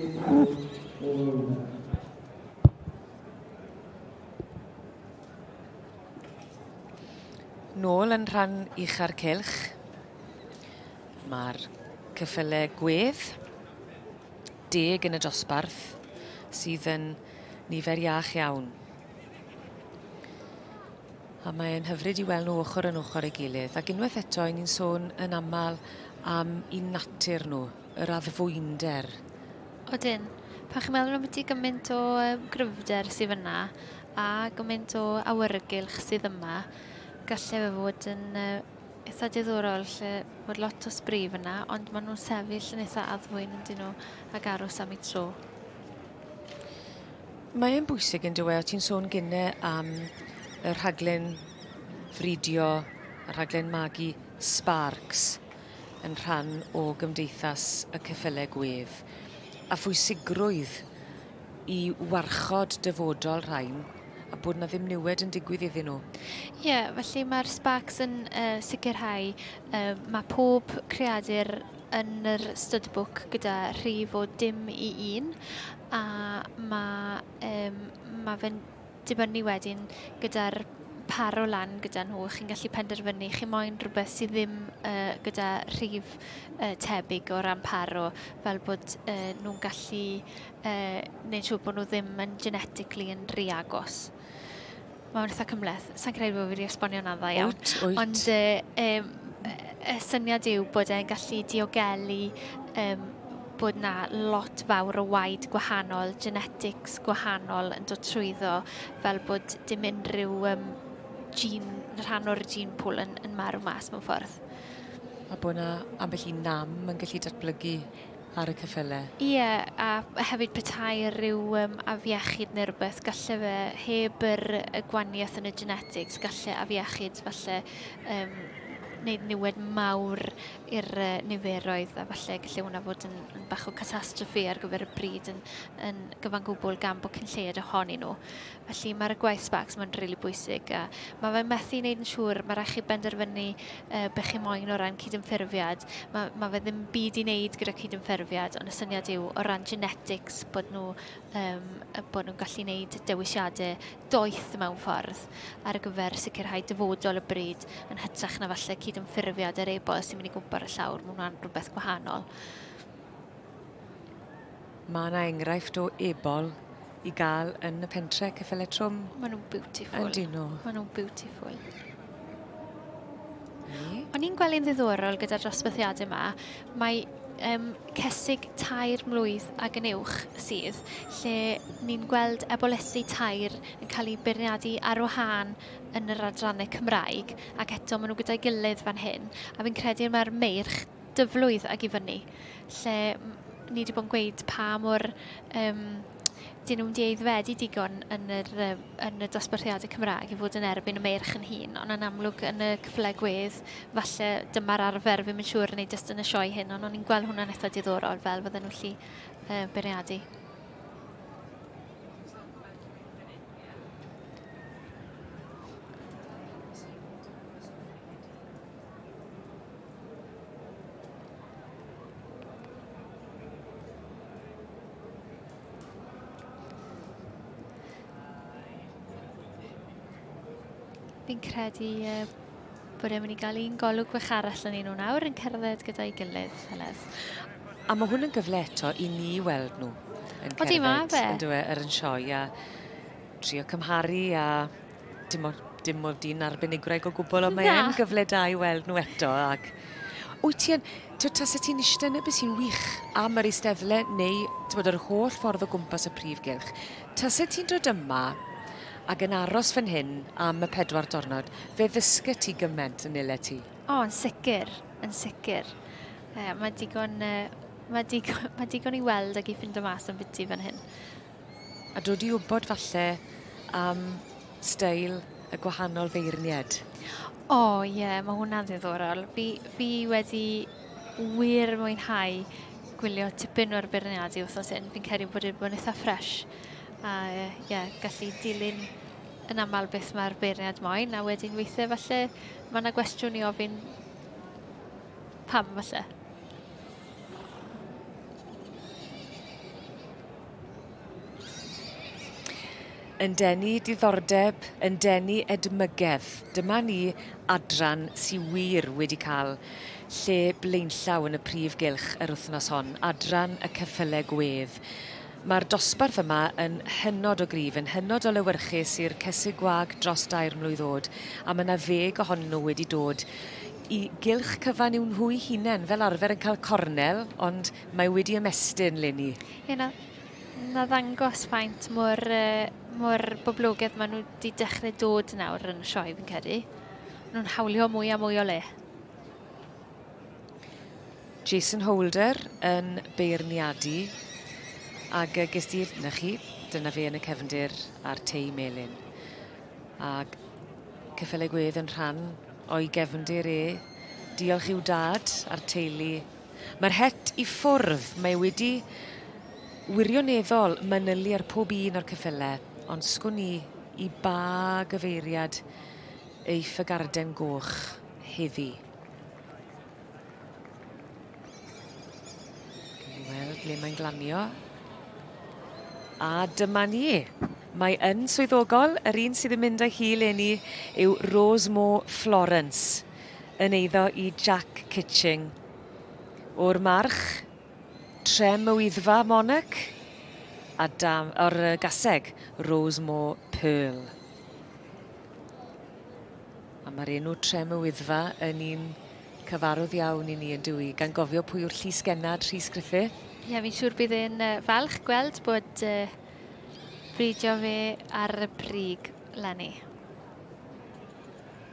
Nôl yn rhan ucha'r cylch. Mae'r cyffyle gwedd deg yn y dosbarth sydd yn nifer iach iawn. A mae'n hyfryd i weld nhw ochr yn ochr ei gilydd. Ac unwaith eto, ni'n sôn yn aml am i natur nhw. yr addfwynder. Odyn. Pan chi'n meddwl ambiti gymaint o gryfder sydd fyna a gymaint o awyrgylch sydd yma, gallai fe fod yn eitha diddorol lle bod lot o sbri fyna, ond maen nhw'n sefyll yn eitha addfwyn yn dyn nhw ag aros am ei tro. Mae e'n bwysig yn dywe, o ti'n sôn gynne am y rhaglen fridio, y rhaglen magu Sparks. yn rhan o gymdeithas y ceffyle gwedd, a phwysigrwydd i warchod dyfodol rhain, a bod na ddim niwed yn digwydd iddyn nhw. Ie, felly mae'r Sparks yn uh, sicrhau uh, mae pob creadur yn yr studbook gyda rhif o dim i un, a mae, um, mae fe'n dibynnu wedyn gyda'r par o lan gyda nhw, chi'n gallu penderfynu chi moyn rhywbeth sydd ddim uh, gyda rhif uh, tebyg o ran paro, fel bod uh, nhw'n gallu uh, neud siŵr bod nhw ddim yn genetically yn rhy agos. Mae'n eitha cymleth. Sa'n credu bod fi wedi esbonio na dda iawn. Wyt, wyt. Ond uh, um, y syniad yw bod e'n gallu diogelu um, bod yna lot fawr o waed gwahanol, genetics gwahanol yn dod trwyddo, fel bod dim unrhyw um, gene, rhan o'r gene pool yn, yn marw mas mewn ffordd. A bod yna ambell i nam yn gallu datblygu ar y cyffyle. Ie, yeah, a hefyd petai rhyw um, afiechyd neu rhywbeth, gallu fe, heb yr, y gwaniaeth yn y genetics, gallu afiechyd falle um, wneud niwed mawr i'r niferoedd a falle gallu hwnna fod yn, yn bach o catastrophe ar gyfer y bryd yn, yn gyfan gwbl gan bod cyn lleied ohonyn nhw. Felly mae'r gwaith sparks mae'n rili really bwysig a mae fe'n methu wneud yn siŵr, mae rhaid chi benderfynu uh, be chi moyn o ran cydymffurfiad. Mae, mae fe ddim byd i wneud gyda cydymffurfiad, ond y syniad yw o ran genetics bod nhw um, bod nhw'n gallu wneud dewisiadau doeth mewn ffordd ar gyfer sicrhau dyfodol y bryd yn hytrach na falle cydymffurfiad yr e-bost sy'n mynd i gwmpo ar y llawr. Mae hwnna'n rhywbeth gwahanol. Mae yna enghraifft o ebol i gael yn y pentre cyffele trwm. Mae nhw'n beautiful. Yn dyn nhw. Mae nhw'n beautiful. O'n i'n gwely'n ddiddorol gyda'r dosbarthiadau yma, mae um, cysig tair mlwydd ag yn uwch sydd, lle ni'n gweld ebolysu tair yn cael ei beirniadu ar wahân yn yr adrannau Cymraeg, ac eto maen nhw gyda'i gilydd fan hyn, a fi'n credu mae'r meirch dyflwydd ag i fyny, lle ni wedi bod yn gweud pa mor um, 'dyn nhw'm 'di aeddfedu digon yn yr yym yn y dosbarthiade Cymraeg i fod yn erbyn y merch yn hŷn, ond yn amlwg yn y cyfle gwedd falle dyma'r arfer, fi'm yn siŵr neu jyst yn y sioe hyn, ond o'n i'n gweld hwnna'n eitha' diddorol fel fydden nhw gallu yy beirniadu. Fi'n credu uh, bod e'n mynd i gael un golwg bach arall yn un o'n awr yn cerdded gyda'i gilydd, Heledd. A mae hwn yn gyfle eto i ni weld nhw yn cerdded. Odi, mae fe. Yn dweud, yr yn sioe a trio cymharu a Dim ond dim ond un arbenigwraig o gwbl, ond mae e'n gyfle da i weld nhw eto. Ac wyt ti yn, ti'n tasa ti'n eistedd yna, bys i'n wych am yr eisteddle neu bod yr holl ffordd o gwmpas y prif gylch. Tasa ti'n dod yma ac yn aros fan hyn am y pedwar dornod, fe ddysgu ti gymaint yn ile ti. O, yn sicr, yn sicr. Uh, mae digon... Uh, mae digon, mae digon i weld ac i ffind o mas am byti fan hyn. A dod i wybod falle am steil y gwahanol feirnied. O oh, ie, yeah, mae hwnna'n ddiddorol. Fi, fi wedi wir mwynhau gwylio tipyn o'r beirniadu wrthnos hyn. Fi'n credu bod wedi bod yn eitha ffres. A ie, yeah, gallu dilyn yn aml beth mae'r beirniad moyn. A wedyn weithiau falle mae yna gwestiwn i ofyn pam falle. Yn denu diddordeb, yn denu edmygedd. Dyma ni, adran sy wir wedi cael lle blaenllaw yn y prif gylch yr wythnos hon, adran y ceffylau gwedd. Mae'r dosbarth yma yn hynod o gryf, yn hynod o lewyrchus i'r cesig gwag dros dair mlwydd oed, a mae yna ddeg ohonyn nhw wedi dod i gylch cyfan i'w nhw'u hunain, fel arfer yn cael cornel, ond Mae wedi ymestyn, Leni. Ie, na, na ddangos faint mor, uh, mor boblogedd maen nhw wedi dechrau dod nawr yn y sioe, fi'n credu. Maen nhw'n hawlio mwy a mwy o le. Jason Holder yn beirniadu ac uh, ges di'r, na chi, dyna fe yn y cefndir a'r tei melin. Ac cyffelau gwedd yn rhan o'i gefndir e. Diolch i'w dad a'r teulu Mae'r het i ffwrdd, mae wedi wirioneddol manylu ar pob un o'r ceffylau, ond sgwn i i ba gyfeiriad eiff y garden goch heddi. Wel, ble mae'n glanio? A dyma ni. Mae yn swyddogol, yr un sydd yn mynd â hi leni yw Rose Moore Florence. yn eiddo i Jack Kitching. O'r march, Trem y Wyddfa Monarch a dam, o'r gaseg, Rosemore Pearl. A mae'r enw Trem y Wyddfa yn un cyfarwydd iawn i ni yn dwi, gan gofio pwy yw'r llys gennad Rhys Griffith. Ie, fi'n siŵr bydd e'n falch gweld bod uh, bridio fe ar y brig, Lenny.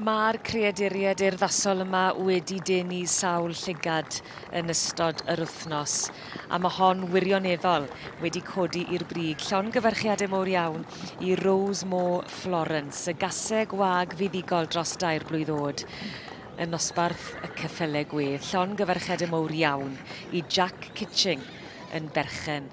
Mae'r creaduriaid urddasol yma wedi denu sawl llygad yn ystod yr wythnos, a mae hon wirioneddol wedi codi i'r brig llongyfarchiadau mowr iawn i Rose Moore Florence, y gaseg wag fuddugol dros dair blwydd oed yn nosbarth y Cyffyle Gwedd. Llongyfarchiadau mowr iawn i Jack Kitching yn berchen